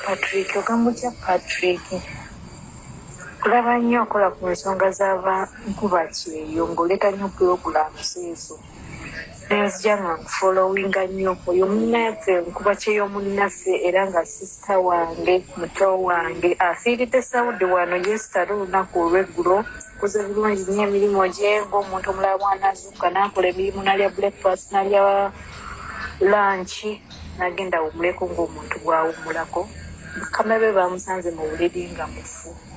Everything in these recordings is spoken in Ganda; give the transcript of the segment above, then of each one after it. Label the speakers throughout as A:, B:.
A: patrick ogamba otya patrick kulaba nnyo okola ku nsonga z'abankuba kyeyo ng'oleeta nnyo pulogulaamu zeezo nenzija nga nkufolowinga nnyo oyo munnanfe nkuba kyeyo munnaffe era nga sisita wange muto wange afiiridde saudi wano yesitale olunaku olweggulo kuze bulungi nyo emirimu gye ngaomuntu omulala bwanazuuka nakola emirimu nalya breakfast nalya lanki nagenda awumuleko ngaomuntu bwawumulako bakama be bamusanze mu buliri nga mufu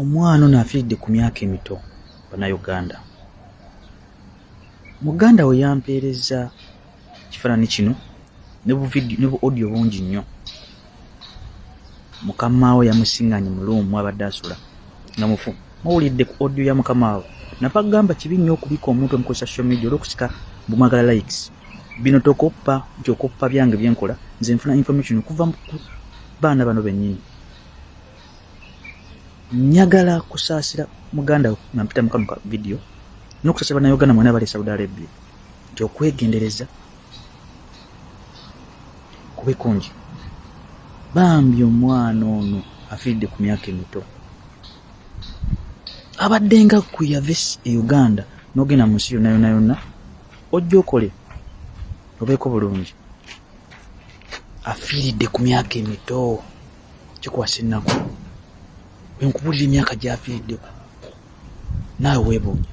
B: Omwana ono afiiridde ku myaka emito bannayuganda. Muganda we yampeerezza ekifaananyi kino ne bu vidiyo ne bu audio bungi nnyo. Mukamaawe yamusinganye mu luumu abadde asula nga mufu. Muwulidde ku audio ya mukamaawe. Napa kugamba kibi nnyo okubika omuntu omu ku social media olw'okusika bumwagala likes. Bino tokoppa nti okoppa byange bye nkola, nze nfuna information kuva ku baana bano bennyini. njagala kusaasira muganda we nga mpita mukano ka vidiyo n'okusaasira bannayuganda mwena abali e saudi arabia nti okwegendereza kube kungi bambi omwana ono afiiridde ku myaka emito abadde nga kuyave e uganda n'ogenda mu nsi yonna yonna yonna ojja okole obeeko bulungi afiiridde ku myaka emito kikwasa ennaku wenkubulira emyaka gyafiiriddeko naawe webuunya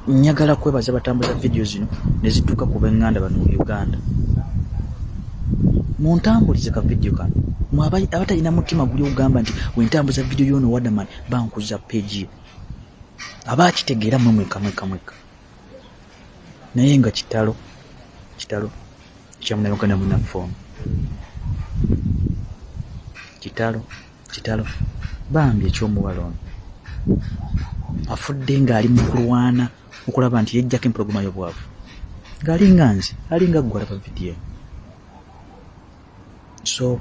B: njagala kwebaza batambuza vidiyo zino ne zituuka ku benganda bano mu uganda muntambulize ka vidiyo kano abatalina mutima guli ogamba nti wentambuza vidiyo yono wadaman bankuza peji abakitegeera mwe mweka mweka mweka naye nga kitalo kitalo kyamunabaganda munaffe ono kitalo kitalo bambi ekyomuwala ono afudde ng'ali mu kulwana okulaba nti yejjako empologoma y'obwavu ng'ali nga nze ali nga ggwe alaba vidiyo So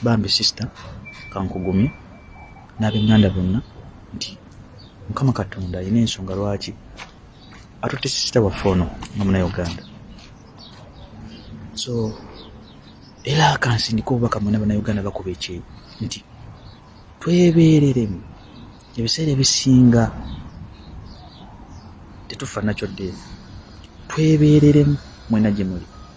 B: bambi sister kankugumye n'abenganda bonna nti mukama katonda alina ensonga lwaki atutte sisita waffe ono nga munauganda so era akansindika obubaka mwena banauganda bakuba ekyeyo nti twebeereremu ebiseera ebisinga tetufa nakyo ddeevu twebeereremu mwena gye muli